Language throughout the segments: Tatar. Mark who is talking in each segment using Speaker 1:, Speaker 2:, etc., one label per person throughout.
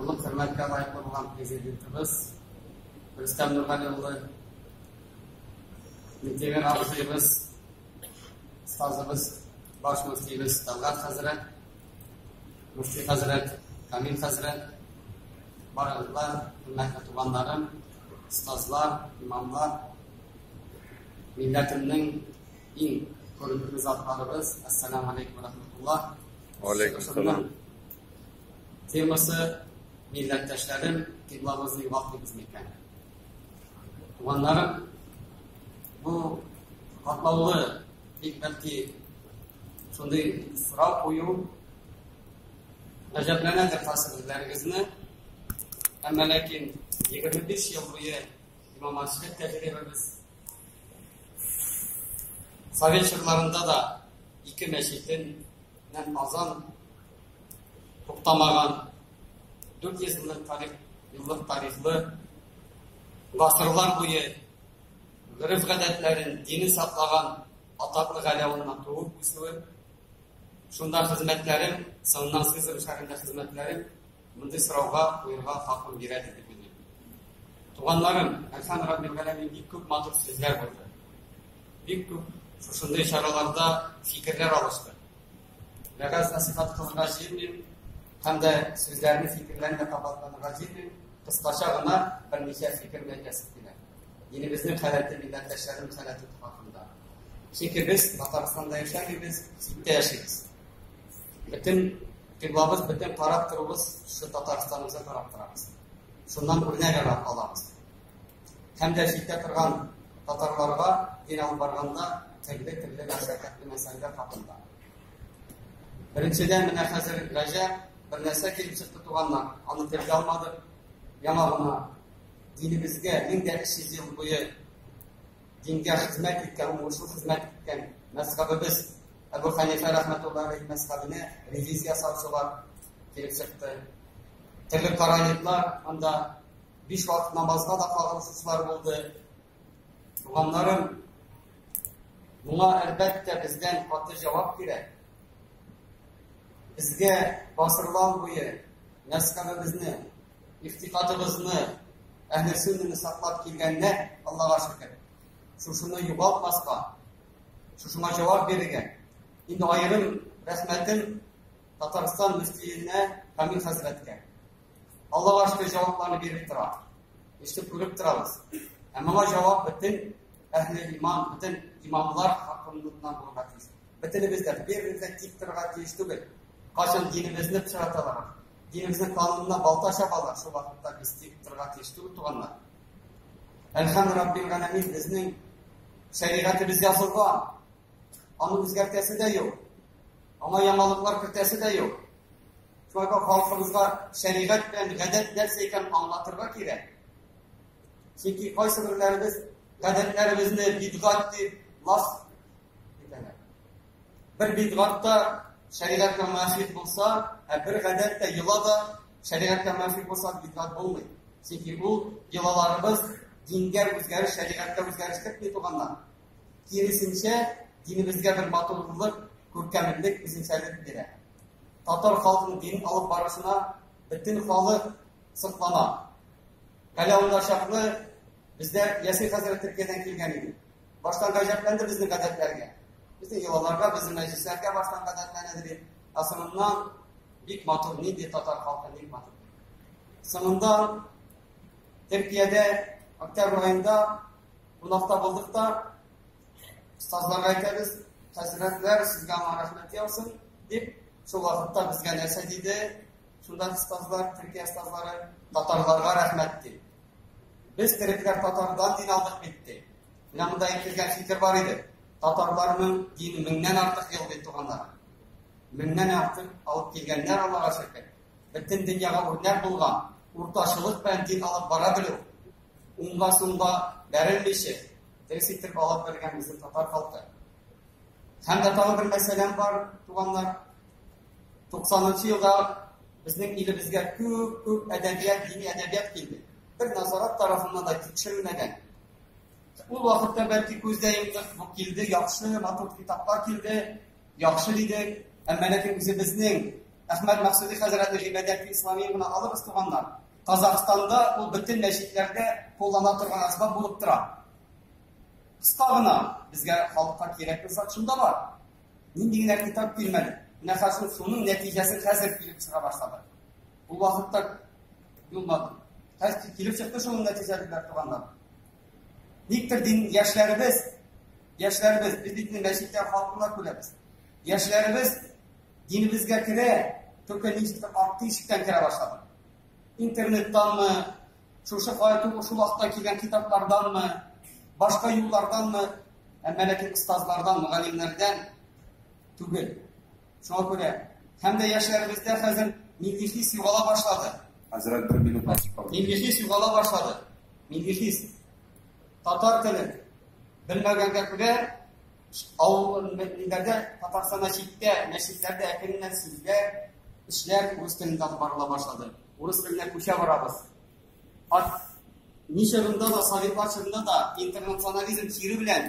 Speaker 1: Олы хөрмәткә лаеклы булган президентыбыз Рөстәм Нургали улы, Минтимер абзыебыз, остазыбыз, баш мөфтиебез Талгат хәзрәт, мөфти хәзрәт, Камил хәзрәт, барыгызга хөрмәтле туганнарым, остазлар, имамлар, милләтемнең иң күренекле затларыбыз, ассаламу алейкум рахматуллах. Алейкум салам. Темасы милләттәшләрем кыйбламызны югалтмыйбыз микән? Туганнарым, бу катлаулы бик бәлки шундый сорау кую гаҗәпләнәдер хасыр үзләрегезне. Әмма ләкин 25 ел буе имамачлык тәҗрибәбез совет чорларында да ике мәчетен Һәм Казан туктамаган 400 еллык тарих, еллык тарихлы гасырлар буе гөреф гадәтләрен, дине саклаган атаклы галәвынна туып үсүе, шунда хезмәтләрем, соңыннан Сызран шәһәрендә хезмәтләрем Мондый сорауга куерга хакым бирә дип белдем. Туганнарым, Әхән Раббил Галәмин бик күп матур сүзләр булды. Бик күп шушындый чараларда фикерләр алышты. Вәгазь насихат кылырга җыенмыйм, һәм дә сүзләрне фикерләрне дә кабатланырга җыенмыйм. Кыскача гына берничә фикер белән язып киләм. Динебезнең халәте, милләттәшләрнең халәте хакында. Чөнки без Татарстанда яшәмибез, читтә яшибез. Бөтен кыйблабыз, бөтен карап торуыбыз шул Татарстаныбызга карап торабыз. Шуннан үрнәк ала алабыз. Һәм дә җитә торган татарларга дин алып барганда төрле төрле мәшәкатьле мәсьәләләр хакында. Беренчедән менә хәзер Рәҗәп бер нәрсә килеп чыкты туганнар, аны телгә алмадык. Яңа гына динебезгә 1300 ел буе дингә хезмәт иткән, уңышлы хезмәт иткән мәзхәбебез Әбу Хәнифә рәхмәтуллаһи алейһи мәзһәбенә ревизия ясаучылар килеп чыкты. Төрле караниклар анда биш вакыт намазга да кагылышучылар булды. Туганнарым, моңа әлбәттә бездән каты җавап кирәк. Безгә гасырлар буе мәскәбебезне, ихтикатыбызны, әһле сөннәне саклап килгәннәр, Аллага шөкер. Шушыны югалтмаска, Шушыңа җавап бирергә. Инде аерым рәхмәтем Татарстан мөфтиенә Камил хәзрәткә. Аллага ашты җавапларны биреп тора. Эште күреп торабыз. Ә моңа җавап бөтен әһле иман, бөтен имамлар хакыннан булырга тиеш. Бөтенебез дә беребезгә тик торырга тиеш түгел. Кайчан динебезне пычраталар, динебезнең канунына балта чабалар, шул вакытта без тик торырга тиеш түгел туганнар. Әлхәм Раббил Галәмин безнең Шәригатебез язылган. Аны үзгәртәсе дә юк. Аңа яңалыклар кертәсе дә юк. Шулай да халкыбызга шәригать белән гадәт нәрсә икән аңлатырга кирәк. Чөнки кайсы бирләребез гадәтләребезне бидгат дип лас итәләр. Бер бидгат та шәригатькә муафик булса, ә бер гадәт тә йола да шәригатькә муафик булса, бидгат булмый. Чөнки бу йолаларыбыз дингә үзгәреш, шәригатькә үзгәреш кертми туганнар. Киресенчә, динебезгә бер матурлык, күркәмлек, үзенчәлек бирә. Татар халкының дин алып барышына бөтен халык соклана. Әле анда чаклы Бездә Ясин хәзрәт Төркиядән килгән иде. Баштан гаҗәпләнде безнең гадәтләргә. Безнең йолаларга, безнең мәҗлесләргә баштан гадәтләнәдер иде. Ә соңыннан бик матур, нинди татар халкы, бик матур. Соңыннан Төркиядә октябрь айында кунакта булдык та, остазларга әйтәбез, хәзрәтләр, сезгә рәхмәт яусын, дип, шул вакытта безгә нәрсә диде, Судан стазлар, Төркия стазлары татарларга рәхмәт ди. Без терекләр татардан дин алдык бит ди. Менә монда әйтелгән фикер бар иде. Татарларның дин меңнән артык ел бит туганнар. Меңнән артык алып килгәннәр аларга шөкер. Бөтен дөньяга үрнәк булган, урташылык белән дин алып бара белү. Унга сумга бәрелмичә, дөрес итеп алып бергән безнең татар халкы. Һәм дә тагын бер мәсьәләм бар, туганнар. 90-нчы елда безнең илебезгә күп-күп әдәбият, дини әдәбият килде. Бер назарат тарафыннан да тикшерелмәгән. Ул вакытта бәлки күздә йомдык бу килде, яхшы, матур китаплар килде, яхшы дидек. Әмма ләкин үзебезнең Әхмәд Мәхсүди хәзрәтне гыйбадәт исламия гына алырбыз туганнар. Казахстанда ул бөтен мәчетләрдә куллана торган әсбап булып тора. Кыска гына безгә халыкка кирәкле зат шунда бар. Нинди генә китап килмәде. Менә хәзер шуның нәтиҗәсе хәзер килеп чыга башлады. Ул вакытта юлмады. Хәзер килеп чыкты шуның нәтиҗәсе белән туганнар. Никтер дин яшьләребез, яшьләребез без бит мәчеттә халкына күрәбез. Яшьләребез динебезгә керә, только ничектер арткы ишектән керә башлады. Интернеттанмы, Шушы кая түгел, шул вакытта килгән китапларданмы, башка юлларданмы, әмма ләкин остазлардан, мөгаллимнәрдән түгел. Шуңа күрә һәм дә яшьләребездә хәзер милли хис югала башлады. Хәзрәт бер минут басып калды. Милли хис югала башлады. Милли хис. Татар телен белмәгәнгә күрә авыл милләрдә Татарстанда читтә мәчетләрдә әкреннән сүзләр, эшләр үз телендә барыла башлады. Урыс теленә күчә барабыз. Ат ни чорында да, советлар чорында да интернационализм чире белән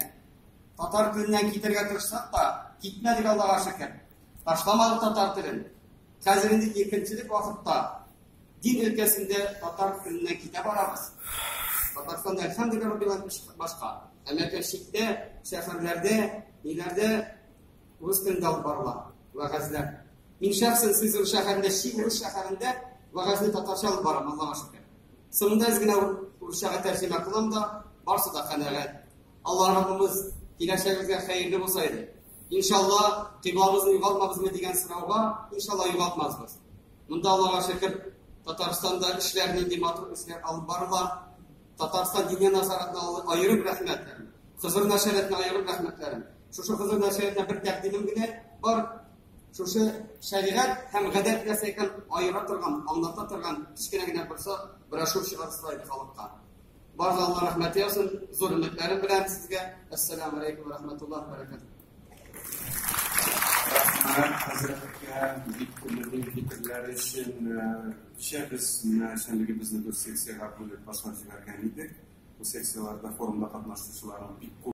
Speaker 1: татар теленнән китәргә тырышсак та, китмәдек Аллага шөкер. Ташламадык татар телен. Хәзер инде иркенчелек вакытта дин өлкәсендә татар теленнән китә барабыз. Татарстанда әлхәмдүлилләһ раббил башка. Әмма шәһәрләрдә, ниләрдә Урыс телендә алып барыла вәгазьләр. Мин шәхсән Сызран шәһәрендә чи урыс шәһәрендә вәгазьне татарча алып барам, Аллага шөкер. Соңында әз генә урысчага тәрҗемә кылам да, барсы да канәгать. Алла Раббыбыз киләчәгебезгә хәерле булса иде. Иншалла, кыйблабызны югалтмабызмы дигән сорауга, иншалла югалтмасбыз. Монда Аллага шөкер, Татарстанда эшләр нинди матур эшләр алып барыла. Татарстан диния назаратына аерым рәхмәт. Хызыр нәшәрәтенә аерым рәхмәтләрем. Шушы хозур нәшриятына бер тәкъдимем генә бар. Шушы шәригать һәм гадәт нәрсә икән аера торган, аңлата торган кечкенә генә булса брошюр чыгарсалар иде халыкка. Бар да Алла рәхмәт яусын. Зур өметләрем белән сезгә. Ассаламу алейкум ва рахматуллаһи ва баракатуһ. Рәхмәт хәзрәткә бик күңелле фикерләр өчен. Кичә без менә эшчәнлегебезне дүрт секциягә бүлеп башлап җибәргән идек. Бу секцияләрдә форумда катнашучыларның бик